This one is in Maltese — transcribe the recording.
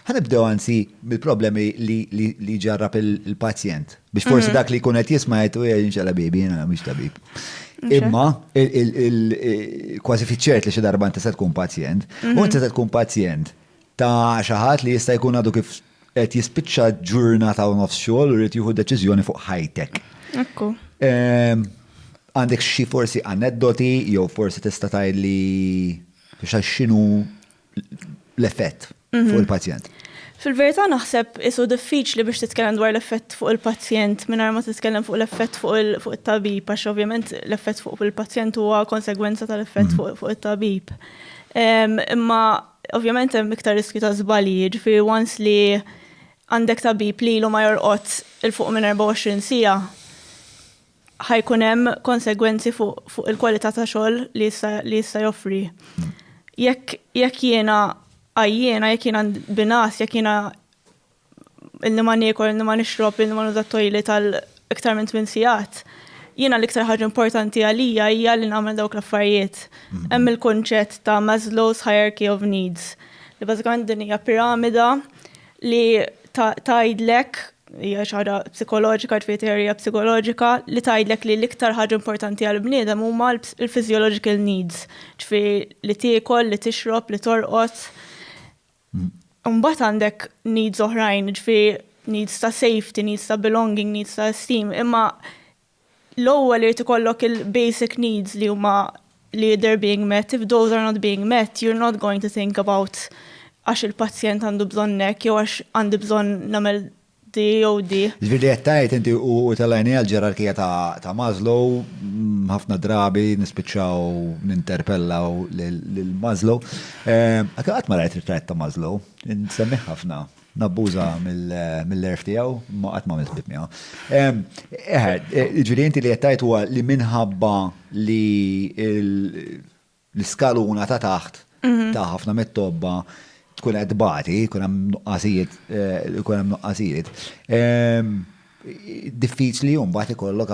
Ħa nibdew anzi mill-problemi li jġarrab il-pazjent. Biex forsi mhm. dak li jkun qed jisma' qed u jinxela bibi, jiena mhix tabib. Imma kważi fiċċert li xi darba inti se tkun pazjent, u mhm. inti se tkun pazjent ta' xi ħadd li jista' jkun għadu kif qed jispiċċa ġurnata u nofs xogħol u rrid jieħu deċiżjoni fuq ħajtek. Ekku. Ehm, għandek xi forsi aneddoti jew forsi tista' tgħidli x'għax x'inhu l-effett mhm. fuq il-pazjent. Fil-verità naħseb isu diffiċli biex titkellem dwar l-effett fuq il-pazjent mingħajr ma titkellem fuq l-effett fuq it-tabib għax ovvjament l-effett fuq il-pazjent huwa konsegwenza tal-effett mhm. fuq it-tabib. Imma ovvjament hemm iktar riskju ta' żbalji, jiġifieri once li għandek tabib li ilu ma jorqod il-fuq minn 24 sija, ħa jkun hemm konsegwenzi fuq il-kwalità ta' xogħol li jista' joffri. Jekk jiena għajjiena, jekk jiena binas, jekk jiena illi ma niekol, illi ma nixrob, illi ma nuża tojli tal iktar minn tmien sigħat, jiena l-iktar ħaġa importanti għalija hija li nagħmel dawk l-affarijiet. Hemm il-kunċett ta' Maslow's Hierarchy of Needs, li bażikament din hija piramida li tgħidlek Hija xi ħaġa psikoloġika, ġifieri teorija psikoloġika li tgħidlek li l-iktar ħaġa importanti għall-bniedem huma l-physiological needs, ġifieri li tiekol, li tixrob, li torqod. Imbagħad għandek needs oħrajn, ġifieri needs ta' safety, needs ta' belonging, needs ta' esteem, imma L-ewwel irid ikollok il-basic needs li huma li they're being met, if those are not being met you're not going to think about għax il-pazjent għandu bżonn hekk jew għax għandi bżonn nagħmel di jew di. Ġifieri li qed tgħid inti u tellgħini għall-ġerarkija ta' Maslow, ħafna drabi nispiċċaw ninterpellaw lil Maslow. Qatt ma rajt ritratt ta' Maslow, insemmih ħafna. Nabbuża mill-għerf tiegħu, imma qatt m'għamilt ħbieb miegħu. Eħe, ġifieri inti li qed tgħid huwa li minħabba li l-iskaluna ta' taħt mhm. ta' ħafna mit-tobba tkun qed tbati, jkun hemm nuqqasijiet, jkun eh, hemm nuqqasijiet. Ehm, diffiċli jum mbagħad ikollok